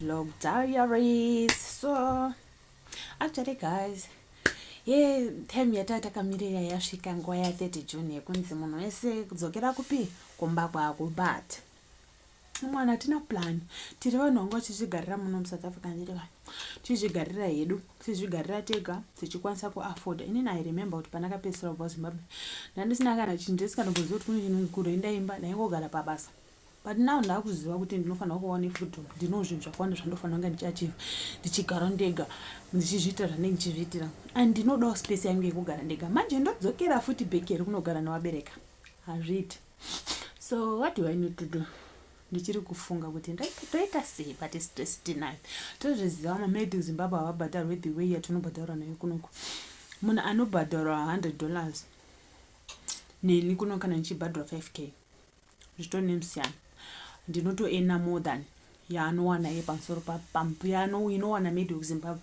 Vlog diaries so actually guys ye time yataa takamirira yasvika nguva ya 30 june yekunzi munhu wese kudzokera kupi kumba kwako but mwana hatina plan tiri vanhu vanga vachizvigarira muno musouth africa ndiri vanhu tizvigarira hedu tizvigarira tega tichikwanisa kuafforda inini i remember kuti pana kapedzisira kubva zimbabwe ndandisina kana chinhu ndisingatogoziva kuti kune chinhu kuroenda imba ndaingogara pabasa But now ndakuziva kuti ndinofanira kuva ne freedom ndino zvinhu zvakawanda zvandofanira kunge ndichiachiva ndichigara ndega ndichizviita zvandenge ndichizviitira and ndinodawo space yangu yekugara ndega manje ndodzokera futi back here kunogara newabereka hazviiti so what do i need to do ndichiri kufunga kuti ndoita sei but stress tinayo tozviziva mamed zimbabwe havabhadharwe the way yatinobhadharwa nayo kunoku munhu anobhadharwa 100 dollars neni kuno kana ndichibhadharwa 5 k zvitori nemusiyano ndinotoena more than yaanowana ye pamusoro pampu yaano inowana maybe kuzimbabwe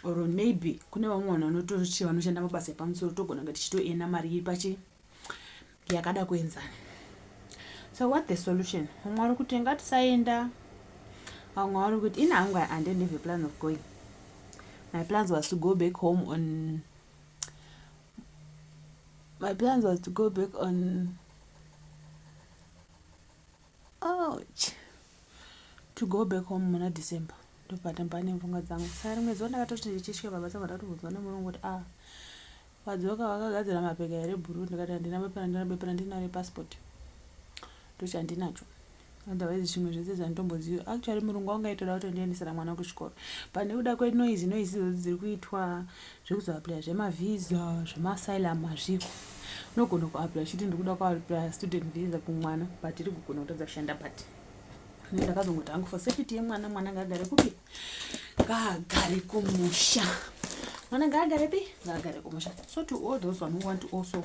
or maybe kune vamwe vanhu vanotochi vanoshanda mabasa epamusoro togona kunge tichitoena mari iri pachi yakada kuenzana so what the solution vamwe vari kuti ngatisaenda vamwe vari kuti ini hangu i didn't have a plan of going my plans was to go back home on My plans was to go back on ouch to go back home muna December ndopatamba nemfunga dzangu sari mwedzi wandakatoti ndichisvika baba saka ndakatobvunzwa nemurungu kuti ah vadzoka vakagadzira mapeka here bhuru ndikati handina bepa handina bepa handina repassport ndochandinacho otherwise zvimwe zvese zvanditomboziva actually murungu wangu aitoda kutondiendesera mwana kuchikoro but nekuda kwenoise noise idzodzi dziri kuitwa zvekuzoaplya zvemavhiza zvemaasylum hazviko unogona kuaplya uchiti ndiri kuda kuaplya student vhiza kumwana but iri kugona kutadza kushanda but ndakazongoti hangu for safety yemwana mwana ngaagare kupi ngaagare kumusha mwana ngaagare pi ngaagare kumusha so to all those one who want to also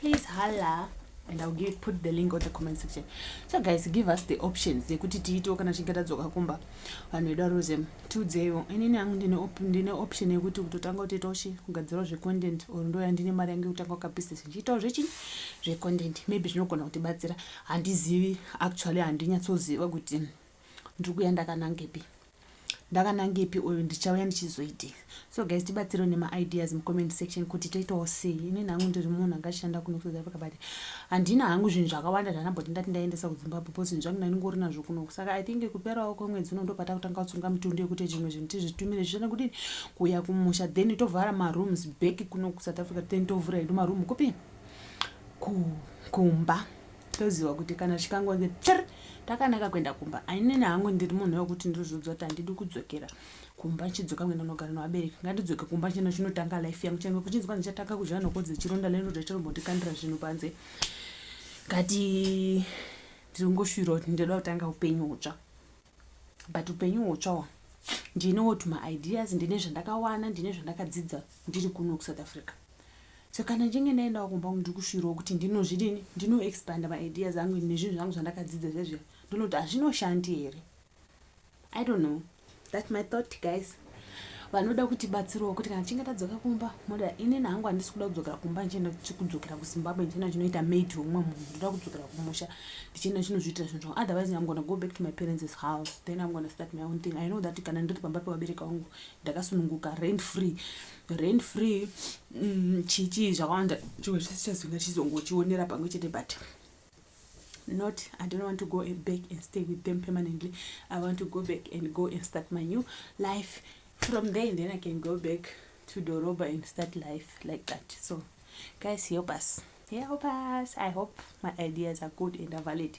please hala and ill give, put the link on the comment section so guys give us the options yekuti tiitewo kana tichinge tadzoka kumba vanhu vedu varuze tiudzeyo inini yangu ndine, op, ndine option yekuti kutotanga kutoitawo chi kugadzirawo zvecontent or ndo yandine mari yangu yekutanga kukabusiness ndichiitawo zvechii zvecontent maybe zvinogona kutibatsira handizivi actually handinyatsoziva kuti ndiri kuya ndakanangepi ndakanangepi uyu ndichauya ndichizoitei so guys tibatsirewo nemaideas mucomment section kuti toitawo sei ini nangu ndiri munhu angashanda kuno kusouth africa but handina hangu zvinhu zvakawanda zvanamboti ndati ndaendesa kuzimbabwe bcause zvinhu zvangu ndandingori nazvo kuno saka i think kuperawo kwemwedzi uno ndopata kutanga kutsunga mitundu yekuti zvimwe zvinhu tizvitumire zvichana kuti kuuya kumusha then tovhara marooms back kuno kusouth africa then tovhura edu maroom kupi kumba ku toziva kuti kana chikangonzi pr takanaka kuenda kumba ainini hangu ndiri munhu wekuti ndozvodzwa kuti handidi kudzokera kumba chidzoka kuenda kunogara nevabereki ngandidzoke kumba chino chinotanga life yangu change kuchinzi kwanzi chatanga kudya nhoko dzechironda lero zvachirombotikandira zvinhu panze ngati ndiri kungoshuvira kuti ndinoda kutanga upenyu hutsva but upenyu hutsva wa ndinewo tuma ideas ndine zvandakawana ndine zvandakadzidza ndiri kuno kusouth africa so kana ndinge ndaendawo kumba kungu ndiri kushuirawo kuti ndinozvidini ndinoexpanda maideas angu nezvinhu zvangu zvandakadzidza zvezviya ndinoti hazvinoshandi here i don't know that my thought guys vanoda kuti batsirwa kuti kana tichinge tadzoka kumba moda inini hangu handisi kuda kudzokera kumba ndichienda kudzokera kuzimbabwe ndichienda chinoita maid womwe munhu ndoda kudzokera kumusha ndichienda chinozviitira zvinhu zvangu otherwise i'm gonna go back to my parents's house then i'm gonna start my own thing i know that kana ndiri pamba pevabereka vangu ndakasununguka rent free rent free mm, chichii zvakawanda chimwe chese chazinga chizongochionera pamwe chete but not i don't want to go back and stay with them permanently i want to go back and go and start my new life from there then i can go back to doroba and start life like that so guys help us help us i hope my ideas are good and are valid